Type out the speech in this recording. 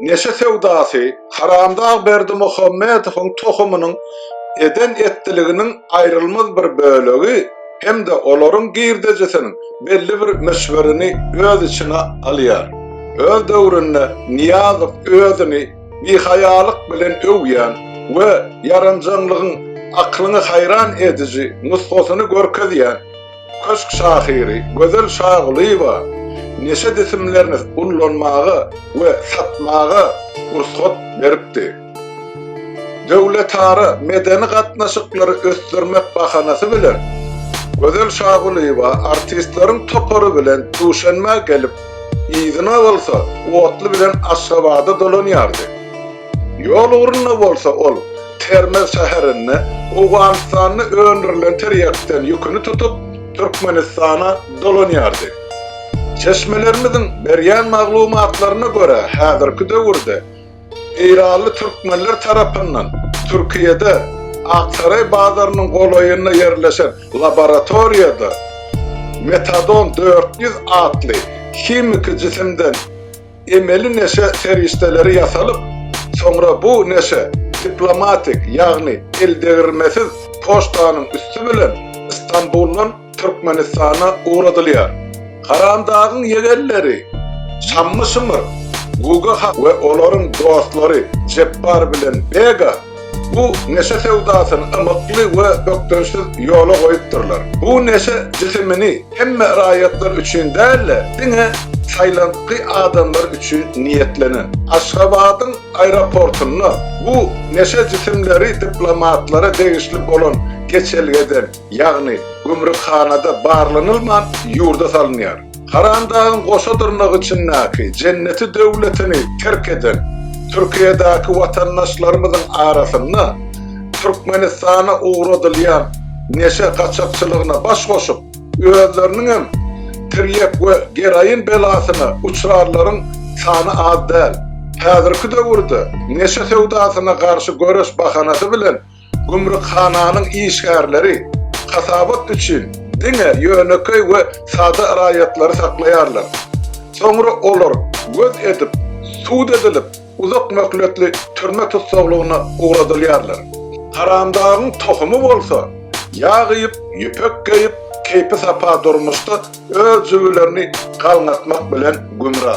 Neşe söwdasy, Haramdag Berdimuhamedowyň tohumynyň eden etdiliginiň aýrylmaz bir bölegi hem-de olaryň girdejisiniň belli bir möçberini öz içine alýar. Öz döwründe Nyýazow özüni bihaýalyk bilen öwýän we ýaranjaňlygyň aklyňy haýran ediji nusgasyny görkezýän, Köşk şahyry Gözel Şagulyýewa neşe jisimlerini ullanmaga we satmaga rugsat beripdi. Döwletara medeni gatnaşyklary ösdürmek bahanasy bilen, Gözel Şagulyýewa artistleriň topary bilen Duşenbä gelip, yzyna bolsa otly bilen Aşgabada dolanýardy. Ýol ugrunda bolsa ol Termez şäherinde Owganystanda öndürilen tirýakdan ýüküni tutup, Türkmenistana dolanýardy. Çeşmelerimiziň berýän maglumatlaryna görä, häzirki döwürde eýranly türkmenler tarapyndan Türkiýede Aksaray bazarynyň golaýynda ýerleşen laboratoriýada metadon dört ýüz atly himiki jisimden emeli neşe serişdeleri ýasalyp, soňra bu neşe diplomatik, ýagny eldegirmesiz poçtanyň üsti bilen Stambuldan Türkmenistana ugradylýar. Haramdagyň ýegenleri Şammy-Şymyr, Guga han we olaryň dostlary Jepbar bilen Bega, Bu neşe söwdasyny ymykly we bökdençsiz ýola goýupdyrlar. Bu neşe jisimini hemme raýatlar üçin däl-de, diňe saýlantgy adamlar üçin niýetlenen. Aşgabadyň aeroportynda bu neşe jisimleri diplomatlara degişli bolan geçelgeden, ýagny gümrükhanada barlanylman ýurda salynýar. Karandagyň goşa dyrnagy içindäki jenneti döwletini terk eden Türkiýedäki watandaşlarymyzyň arasynda Türkmenistana ugradylýan neşe gaçakçylygyna baş goşup, özleriniň hem tirýek we geroin belasyna uçrarlaryň sany az däl. Häzirki döwürde neşe söwdasyna garşy göreş bahanasy bilen Gümrükhananyň işgärleri hasabat üçin diňe ýönekeý we sada raýatlary saklaýarlar. Soňra olar göz edip, sud edilip, uzak möhletli türme tussaglygyna ugradylýarlar. Haramdagyň tohumy bolsa, ýag iýip, ýüpek geýip, keýpi-sapa durmuşda öz jübülerini galňatmak bilen gümra.